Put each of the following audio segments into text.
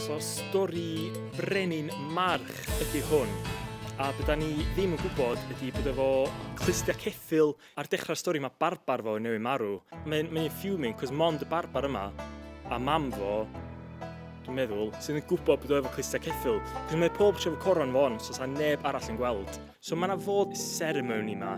So stori brenin march ydy hwn. A beth da ni ddim yn gwybod ydy bod efo clustia ceffil ar dechrau'r stori mae barbar fo yn newid marw. Mae'n mae fuming cos mond y barbar yma a mam fo dwi'n meddwl, sydd yn gwybod bod o efo clustia ceffil. Cos mae pob tro efo coron fo on, so sa neb arall yn gweld. So mae yna fod ceremony yma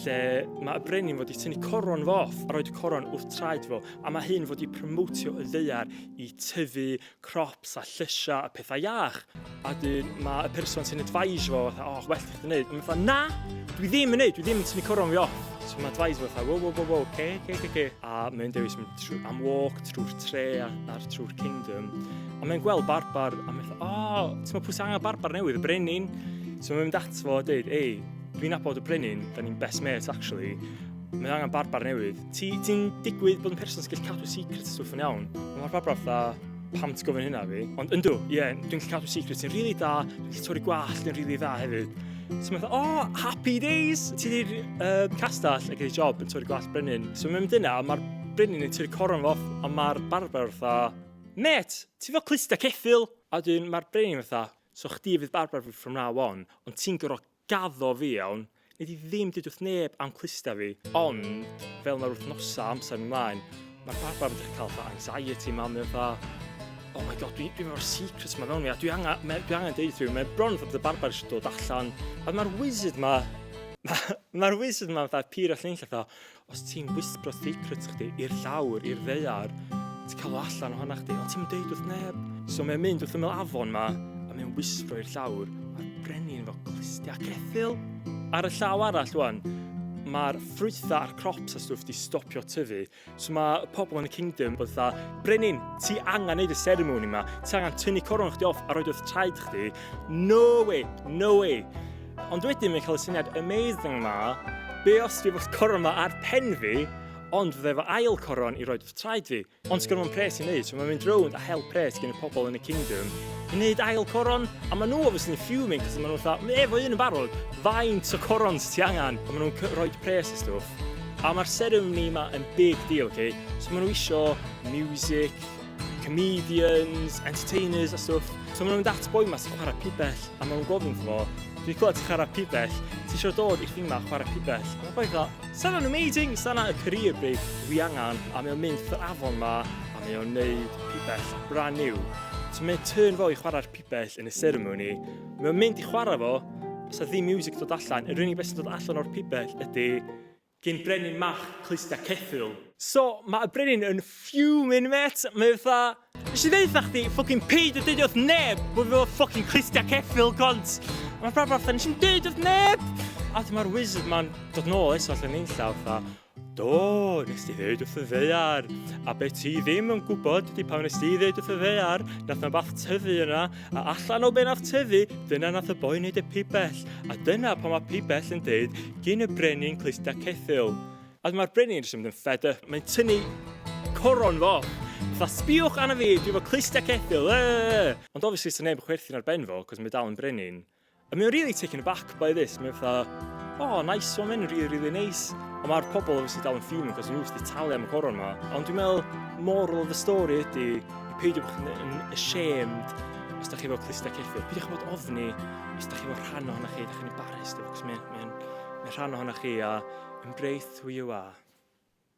lle mae y brenin fod i tynnu coron fo off a roed y coron wrth traed fo a mae hyn fod i promotio y ddeiar i tyfu crops a llysiau a pethau iach. A dyn mae y person sy'n advise fo fatha, oh, well ti'n gwneud. Mae'n fatha, na, dwi ddim yn neud, dwi ddim yn tynnu coron fi off. So mae advise fo fatha, wo, wo, wo, wo, ce, ce, ce, ce. A mae'n dewis mynd trwy, am walk trwy'r tre a'r trwy'r kingdom. Ond mae'n gweld barbar a mae'n o, oh, ti'n meddwl pwy sy'n angen barbar newydd, y brenin. So mae'n mynd at fo a dweud, ei, dwi'n abod y brenin, da ni'n best mates actually. Mae'n angen barbar newydd. Ti'n ti digwydd bod yn person sy'n gallu cadw secret stwff yn iawn. Mae'r barbar fatha, pam ti'n gofyn hynna fi? Ond yndw, ie, yeah, dwi'n gallu cadw secret sy'n rili really da, dwi'n gallu torri gwallt yn rili really dda hefyd. So mae'n oh, happy days! Ti di'r uh, castell ac ei job yn torri gwallt brenin. So mae'n mynd yna, mae'r brenin yn torri coron fo, a mae'r barbar fatha, Mêt, ti fel cluster ceffyl! A wedyn mae'r brenin fatha, so chdi fydd barbar fi from now on, ond ti'n gor'o' gaddo fi iawn, nei di ddim deud wrth neb am cluster fi. Ond fel mae'r wythnosa' amser mynd mlaen, mae'r barbar yn dechra' ca'l fatha anxiety yma, mae o fatha, oh my god dwi dwi efo'r secret yma mewn fi a dwi anga- me- dwi angen deud wrth rywun, mae bron fatha bod y barbar eisiau dod allan, a mae'r wizard 'ma, mae'r wizard 'ma fatha pur a lle'n fatha, Os ti'n wisbro secrets chdi i'r llawr, i'r ddeiar, ti'n cael o allan ohona chdi, ond ti'n deud wrth neb. So mae'n mynd wrth ymyl afon ma, a mae'n wisbro i'r llawr, a'r brenin fo clustiau crethil. Ar y llaw arall, wan, mae'r ffrwytha a'r crops a stwff di stopio tyfu. So mae pobl yn y kingdom bod dda, Brenin, ti angen neud y ceremony yma, ti angen tynnu coron chdi off a roed wrth traed chdi. No way, no way. Ond wedyn mae'n cael y syniad amazing ma, be os dwi efo'r coron ma ar pen fi, ond fydda efo ail coron i roed wrth traed fi. Ond sgwrn o'n pres i wneud, so mae'n mynd rownd a help pres gen y pobl yn y kingdom i wneud ail coron, a maen nhw obviously yn fuming, cos maen nhw'n fatha, mae efo un yn barod, faint o corons ti angen? A maen nhw'n roed pres a stwff. A mae'r ceremony yma yn big deal, okay? So maen nhw isio music, comedians, entertainers a stwff. So maen nhw'n mynd at boi yma sy'n chwarae pibell a maen nhw'n gofyn fo, dwi'n clywed ti'n chwarae pibell, ti eisiau dod i'r thing yma chwarae pibell? Mae'n boi dda, sa'n o'n amazing, sa'n y career break dwi angen a mae o'n mynd i'r afon yma a mae o'n neud pibell brand new. So mae'n turn fo i chwarae'r pibell yn y ceremony, mae o'n mynd i chwarae fo, sa ddim music dod allan, yr unig beth sy'n dod allan o'r pibell ydy Gin brenin mach clusta ceffyl. So ma y brenin yn fuming met, mae o fatha Nes i ddeutha chdi ffycin peidio deud wrth neb bo fi efo ffycin clustiau ceffyl cont! A ma Brad fatha nes i'm deud wrth neb! A wedyn ma'r wizard ma'n dod nôl eto allan nunlla fatha Do, nes di ddeud wrth y ddaear! A be ti ddim yn gwybod ydi pan nes di ddeud wrth y ddaear nath na wbath tyfu yna A allan o bennaf tyfu, dyna nath y boi wneud y pibell, a dyna pan mae pibell yn deud gyn y brenin clustia ceffyl. A mae'r brenin jyst yn mynd yn fed up, mae'n tynnu coron fo. Fatha, sbiwch arna fi, dwi fo clustia ceffyl, yy! Ond obviously, sa neb yn chwerthin ar ben fo, cos mae dal yn brenin. A mae o'n really taken aback by this. Mae'n fatha, oh, nice, so mae'n really, really nice. Ond mae'r pobl obviously dal yn fuming, cos nhw wrth i talu am y coron yma. Ond dwi'n meddwl, moral of the story ydy, peidio bod chi'n yn ashamed os da chi efo clustau ceffil. Peidio chi bod ofni os da chi efo rhan ohono chi, da chi'n embarrassed efo, cos mae'n mae, mae rhan ohono chi a embrace who you are.